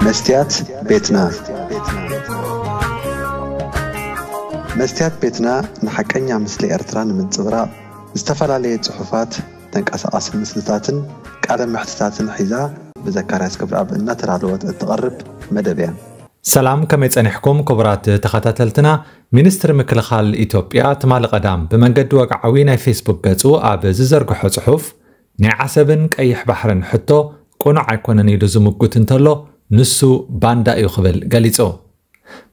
መስትያት ቤትና መስትያት ቤትና ንሓቀኛ ምስሊ ኤርትራ ንምንጽብራቕ ዝተፈላለየ ጽሑፋት፣ ተንቀሳቓሲ ምስልታትን ቃለ መሕትታትን ሒዛ ብዘካርያስ ገብረኣብ እናተዳለወት እትቐርብ መደብ እያ። ሰላም ከመይ ጸኒሕኩም ክቡራት ተኸታተልትና ሚኒስትሪ ምክልኻል ኢትዮጵያ ትማሊ ቀዳም ብመንገዲ ወግዓዊ ናይ ፌስቡክ ገጹ ኣብ ዝዘርግሖ ጽሑፍ ናይ ዓሰብን ቀይሕ ባሕርን ሕቶ ቅኑዕ ኣይኮነን ኢሉ ዝምጉት እንተሎ ንሱ ባንዳ እዩ ክብል ገሊጹ።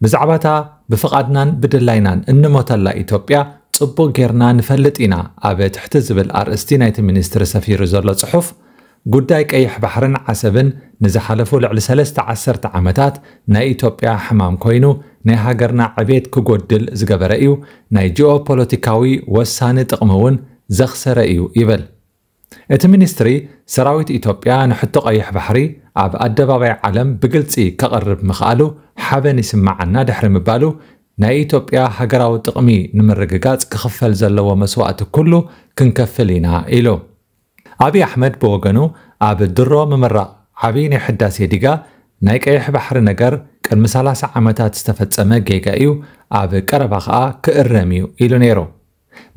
ብዛዕባ እታ ብፍቓድናን ብድላይናን እንሞተላ ኢትዮጵያ ጽቡቕ ጌርና ንፈልጥ ኢና ኣብ ትሕቲ ዝብል ኣርእስቲ ናይቲ ሚኒስትሪ ሰፊሩ ዘሎ ጽሑፍ ጉዳይ ቀይሕ ባሕርን ዓሰብን ንዝሓለፉ ልዕሊ ሰለስተ ዓሰርተ ዓመታት ናይ ኢትዮጵያ ሕማም ኮይኑ ናይ ሃገርና ዕቤት ክጎድል ዝገበረ እዩ ናይ ጂኦ ፖለቲካዊ ወሳኒ ጥቕሚ እውን ዘኽሰረ እዩ ይብል። እቲ ሚኒስትሪ፣ ሰራዊት ኢትዮጵያ ንሕቶ ቀይሕ ባሕሪ ኣብ ኣደባባይ ዓለም ብግልፂ ከቕርብ ምኽኣሉ ሓበን ይስመዓና ድሕሪ ምባሉ፣ ናይ ኢትዮጵያ ሃገራዊ ጥቕሚ ንምርግጋፅ ክኽፈል ዘለዎ መስዋእቲ ኩሉ ክንከፍል ኢና ኢሉ። ኣብይ ኣሕመድ ብወገኑ ኣብ ድሮ ምምራቕ ዓብይ ናይ ሕዳሴ ዲጋ፣ ናይ ቀይሕ ባሕሪ ነገር ቅድሚ ሰላሳ ዓመታት ዝተፈፀመ ጌጋ እዩ፣ ኣብ ቀረባ ከዓ ክእረም እዩ ኢሉ ነይሩ።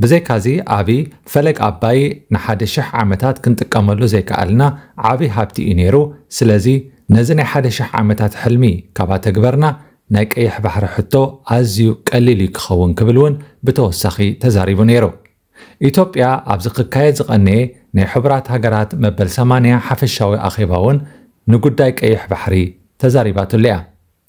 ብዘይካዚ ኣብይ ፈለግ ኣባይ ንሓደ ሽሕ ዓመታት ክንጥቀመሉ ዘይከኣልና ዓብይ ሃብቲ እዩ ነይሩ፣ ስለዚ ነዚ ናይ ሓደ ሽሕ ዓመታት ሕልሚ ካብ ኣተግበርና ናይ ቀይሕ ባሕሪ ሕቶ ኣዝዩ ቀሊል እዩ ክኸውን ክብል እውን ብተወሳኺ ተዛሪቡ ነይሩ። ኢትዮጵያ ኣብዚ ክካየድ ዝቐነየ ናይ ሕቡራት ሃገራት መበል ሰማንያ ሓፈሻዊ ኣኼባ እውን ንጉዳይ ቀይሕ ባሕሪ ተዛሪባትሉ እያ።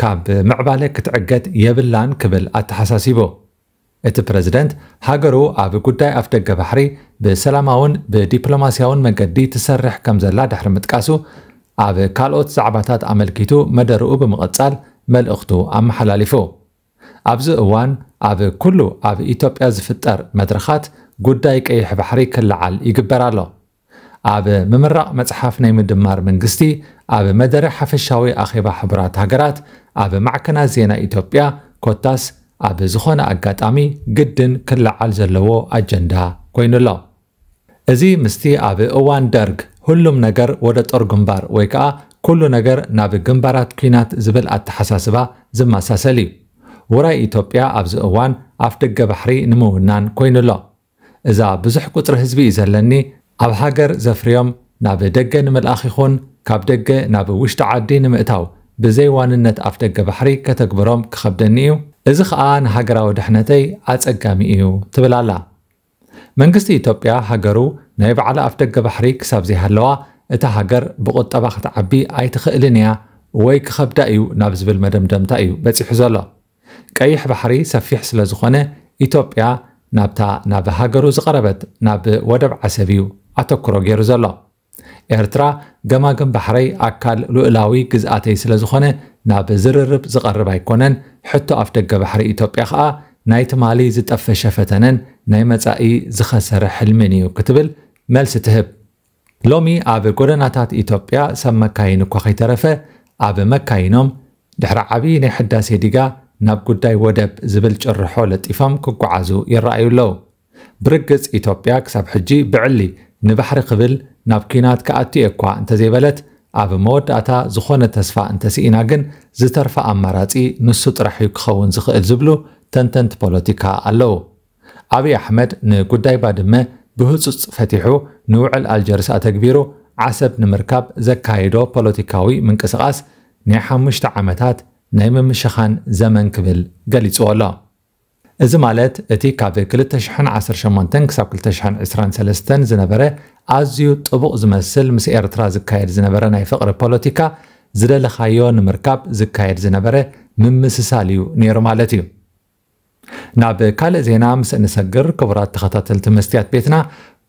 ካብ ምዕባለ ክትዕገት የብላን ክብል ኣተሓሳሲቡ። እቲ ፕረዚደንት፣ ሃገሩ ኣብ ጉዳይ ኣፍደገ ባሕሪ ብሰላማውን ብዲፕሎማስያውን መገዲ ትሰርሕ ከምዘላ ድሕሪ ምጥቃሱ፣ ኣብ ካልኦት ዛዕባታት ኣመልኪቱ መደርኡ ብምቕጻል መልእኽቱ ኣመሓላሊፉ። ኣብዚ እዋን ኣብ ኩሉ ኣብ ኢትዮጵያ ዝፍጠር መድረኻት ጉዳይ ቀይሕ ባሕሪ ክለዓል ይግበር ኣሎ። ኣብ ምምራቕ መጽሓፍ ናይ ምድማር መንግስቲ ኣብ መደረ ሓፈሻዊ ኣኼባ ሕቡራት ሃገራት ኣብ ማዕከናት ዜና ኢትዮጵያ ኮታስ ኣብ ዝኾነ ኣጋጣሚ ግድን ክለዓል ዘለዎ ኣጀንዳ ኮይኑ ኣሎ። እዚ ምስቲ ኣብ እዋን ደርግ ሁሉም ነገር ወደ ጦር ግንባር ወይ ከኣ ኩሉ ነገር ናብ ግንባራት ኲናት ዝብል ኣተሓሳስባ ዝመሳሰል እዩ። ውራይ ኢትዮጵያ ኣብዚ እዋን ኣፍደገ ባሕሪ ንምውናን ኮይኑ ኣሎ። እዛ ብዙሕ ቁጽሪ ህዝቢ እዩ ዘለኒ ኣብ ሃገር ዘፍርዮም ናብ ደገ ንምልኣኽ ይኹን ካብ ደገ ናብ ውሽጢ ዓዲ ንምእታው ብዘይ ዋንነት ኣፍደገ ባሕሪ ከተግብሮም ክኸብደኒ እዩ እዚ ከኣ ንሃገራዊ ድሕነተይ ኣጸጋሚ እዩ ትብል ኣላ። መንግስቲ ኢትዮጵያ ሃገሩ ናይ ባዕላ ኣፍደገ ባሕሪ ክሳብ ዘይሃለዋ እታ ሃገር ብቁጠባ ክትዓቢ ኣይትኽእልን እያ ወይ ክኸብዳ እዩ ናብ ዝብል መደምደምታ እዩ በጺሑ ዘሎ። ቀይሕ ባሕሪ ሰፊሕ ስለ ዝኾነ ኢትዮጵያ ናብታ ናብ ሃገሩ ዝቐረበት ናብ ወደብ ዓሰብ እዩ ኣተኩሮ ገይሩ ዘሎ። ኤርትራ ገማግም ባሕረይ ኣካል ሉእላዊ ግዝኣተይ ስለ ዝኾነ ናብ ዝርርብ ዝቐርብ ኣይኮነን፣ ሕቶ ኣፍደገ ባሕሪ ኢትዮጵያ ከኣ ናይ ትማሊ ዝጠፈሸ ፈተነን ናይ መጻኢ ዝኸሰረ ሕልሚን እዩ ክትብል መልሲ ትህብ። ሎሚ ኣብ ጎደናታት ኢትዮጵያ ሰብ መካይን እኳ ከይተረፈ ኣብ መካይኖም ድሕሪ ዓብዪ ናይ ሕዳሴ ዲጋ ናብ ጉዳይ ወደብ ዝብል ጭርሖ ለጢፎም ክጓዓዙ ይረኣዩ ኣለዉ። ብርግፅ ኢትዮጵያ ክሳብ ሕጂ ብዕሊ ንባሕሪ ክብል ናብ ኲናት ክኣቱ እየ እኳ እንተዘይበለት ኣብ መወዳእታ ዝኾነ ተስፋ እንተስኢና ግን ዝተርፋ ኣማራፂ ንሱ ጥራሕ እዩ ክኸውን ዝኽእል ዝብሉ ተንተንቲ ፖለቲካ ኣለዉ። ኣብይ ኣሕመድ ንጉዳይ ባድመ ብህፁፅ ፈቲሑ ንውዕል ኣልጀርስ ኣተግቢሩ ዓሰብ ንምርካብ ዘካይዶ ፖለቲካዊ ምንቅስቓስ ናይ ሓሙሽተ ዓመታት ናይ ምምሽኻን ዘመን ክብል ገሊፅዎ ኣሎ። እዚ ማለት እቲ ካብ ክልተ ሽሕን ዓሰርተ ሸሞንተን ክሳብ ክልተ ሽሕን ዕስራን ሰለስተን ዝነበረ ኣዝዩ ጥቡቕ ዝመስል ምስ ኤርትራ ዝካየድ ዝነበረ ናይ ፍቕሪ ፖለቲካ ዝደለኻዮ ንምርካብ ዝካየድ ዝነበረ ምምስሳል እዩ ነይሩ ማለት እዩ። ናብ ካልእ ዜና ምስ እንሰግር ክቡራት ተኸታተልቲ መስትያት ቤትና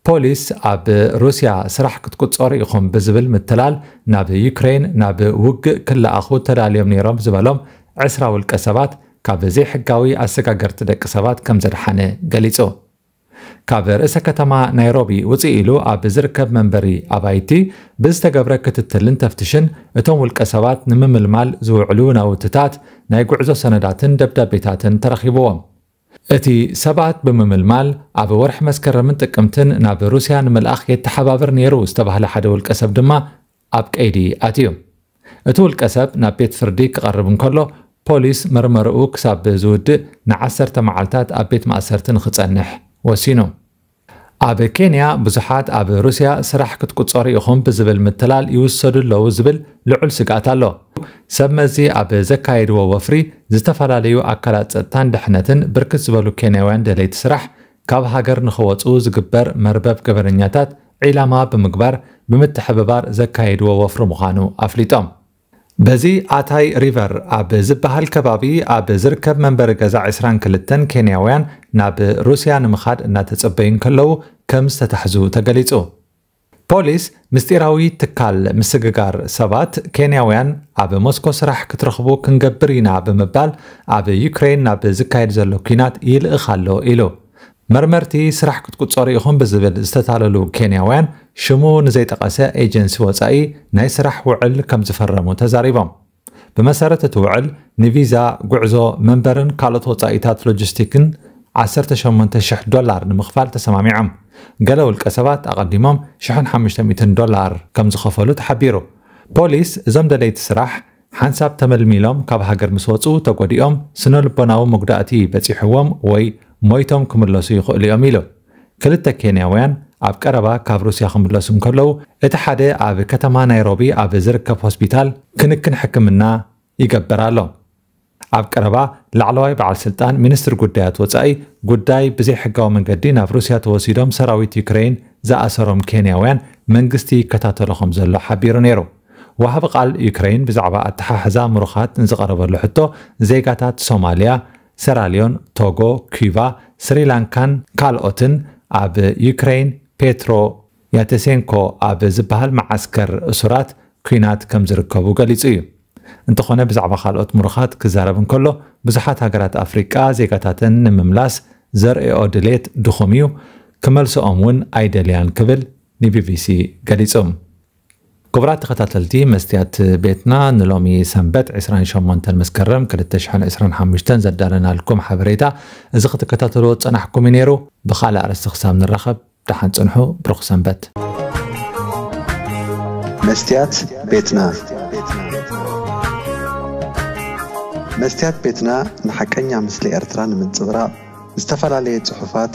ፖሊስ ኣብ ሩስያ ስራሕ ክትቁጸሩ ኢኹም ብዝብል ምትላል ናብ ዩክሬን ናብ ውግእ ክለኣኹ ተዳልዮም ነይሮም ዝበሎም ዕስራ ውልቀ ሰባት ካብ ዘይሕጋዊ ኣሰጋገርቲ ደቂ ሰባት ከምዘድሓነ ገሊጹ። ካብ ርእሰ ከተማ ናይሮቢ ውፅእ ኢሉ ኣብ ዝርከብ መንበሪ ኣባይቲ ብዝተገብረ ክትትልን ተፍትሽን እቶም ውልቀ ሰባት ንምምልማል ዝውዕሉ ናውትታት ናይ ጉዕዞ ሰነዳትን ደብዳቤታትን ተረኺብዎም። እቲ ሰባት ብምምልማል ኣብ ወርሒ መስከረምን ጥቅምትን ናብ ሩስያ ንምልኣኽ የተሓባብር ነይሩ ዝተባህለ ሓደ ውልቀ ሰብ ድማ ኣብ ቀይዲ ኣትዩ። እቲ ውልቀሰብ ናብ ቤት ፍርዲ ክቐርብ እንከሎ፣ ፖሊስ መርመርኡ ክሳብ ዝውድእ ንዓሰርተ መዓልታት ኣብ ቤት ማእሰርቲ ንኽጸንሕ ወሲኑ። ኣብ ኬንያ ብዙሓት ኣብ ሩስያ ስራሕ ክትቁጸሩ ኢኹም ብዝብል ምትላል ይውሰዱ ኣለዉ ዝብል ልዑል ስግኣት ኣሎ። ሰብ መዚ ኣብ ዘካየድዎ ወፍሪ ዝተፈላለዩ ኣካላት ጸጥታን ድሕነትን ብርክት ዝበሉ ኬንያውያን ደለይቲ ስራሕ ካብ ሃገር ንኸወፁ ዝግበር መርበብ ገበነኛታት ዒላማ ብምግባር ብምትሕብባር ዘካየድዎ ወፍሪ ምዃኑ ኣፍሊጦም። በዚ ኣታይ ሪቨር ኣብ ዝበሃል ከባቢ ኣብ ዝርከብ መንበሪ ገዛ ዕስራን ክልተን ኬንያውያን ናብ ሩስያ ንምኻድ እናተፀበዩ እንከለዉ ከምዝተታሕዙ ተገሊፁ። ፖሊስ ምስጢራዊ ትካል ምስግጋር ሰባት ኬንያውያን ኣብ ሞስኮ ስራሕ ክትረኽቡ ክንገብር ኢና ብምባል ኣብ ዩክሬን ናብ ዝካየድ ዘሎ ኲናት ይልእኽ ኣሎ ኢሉ። መርመርቲ ስራሕ ክትቁጸሩ ኢኹም ብዝብል ዝተታለሉ ኬንያውያን ሽሙ ንዘይጠቐሰ ኤጀንሲ ወጻኢ ናይ ስራሕ ውዕል ከምዝፈረሙ ተዛሪቦም። ብመሰረት እቲ ውዕል፣ ንቪዛ፣ ጉዕዞ፣ መንበርን ካልኦት ወጻኢታት ሎጂስቲክን ዓሰርተ ሸሞንተ ሽሕ ዶላር ንምኽፋል ተሰማሚዖም። ገለ ውልቀሰባት ኣቐዲሞም ሽሕን ሓሙሽተ ሚእትን ዶላር ከም ዝኸፈሉ ተሓቢሩ። ፖሊስ፣ እዞም ደለይቲ ስራሕ፣ ሓንሳብ ተመልሚሎም ካብ ሃገር ምስ ወጹ ተጐዲኦም ስነ-ልቦናዊ መጉዳእቲ በጺሑዎም ወይ ሞይቶም ክምለሱ ይኽእሉ'ዮም ኢሉ። ክልተ ኬንያውያን ኣብ ቀረባ ካብ ሩስያ ክምለሱ እንከለዉ፣ እቲ ሓደ ኣብ ከተማ ናይሮቢ ኣብ ዝርከብ ሆስፒታል ክንክን ሕክምና ይገበር ኣሎ። ኣብ ቀረባ ላዕለዋይ በዓል ስልጣን ሚኒስትሪ ጉዳያት ወጻኢ ጉዳይ ብዘይሕጋዊ መንገዲ ናብ ሩስያ ተወሲዶም ሰራዊት ዩክረይን ዝኣሰሮም ኬንያውያን መንግስቲ ይከታተሎ ከምዘሎ ሓቢሩ ነይሩ። ወሃቢ ቃል ዩክረይን ብዛዕባ ኣተሓሕዛ ምሩኻት ንዝቐረበሉ ሕቶ ዜጋታት ሶማልያ ሰራልዮን፣ ቶጎ፣ ኲባ፣ ስሪላንካን ካልኦትን ኣብ ዩክረይን ፔትሮ ያተሴንኮ ኣብ ዝበሃል መዓስከር እሱራት ኲናት ከም ዝርከቡ ገሊጹ እዩ። እንተኾነ ብዛዕባ ካልኦት ምሩኻት ክዛረብ እንከሎ ብዙሓት ሃገራት ኣፍሪቃ ዜጋታተን ንምምላስ ዘርእይኦ ድሌት ድኹም እዩ፣ ክመልስኦም'ውን ኣይደልያን ክብል ንቢቢሲ ገሊጹ። ክቡራት ተኸታተልቲ መስትያት ቤትና ንሎሚ ሰንበት ዕስራን ሸሞንተን መስከረም ክልተ ሽሕን ዕስራን ሓሙሽተን ዘዳለናልኩም ሓበሬታ እዚ ክትከታተልዎ ዝጸናሕኩም እዩ ነይሩ። ብኻልእ ኣርእስቲ ክሳብ ንራኸብ ደሓን ጽንሑ። ብሩኽ ሰንበት። መስትያት ቤትና መስትያት ቤትና ንሓቀኛ ምስሊ ኤርትራ ንምንጽብራቕ ዝተፈላለየ ጽሑፋት፣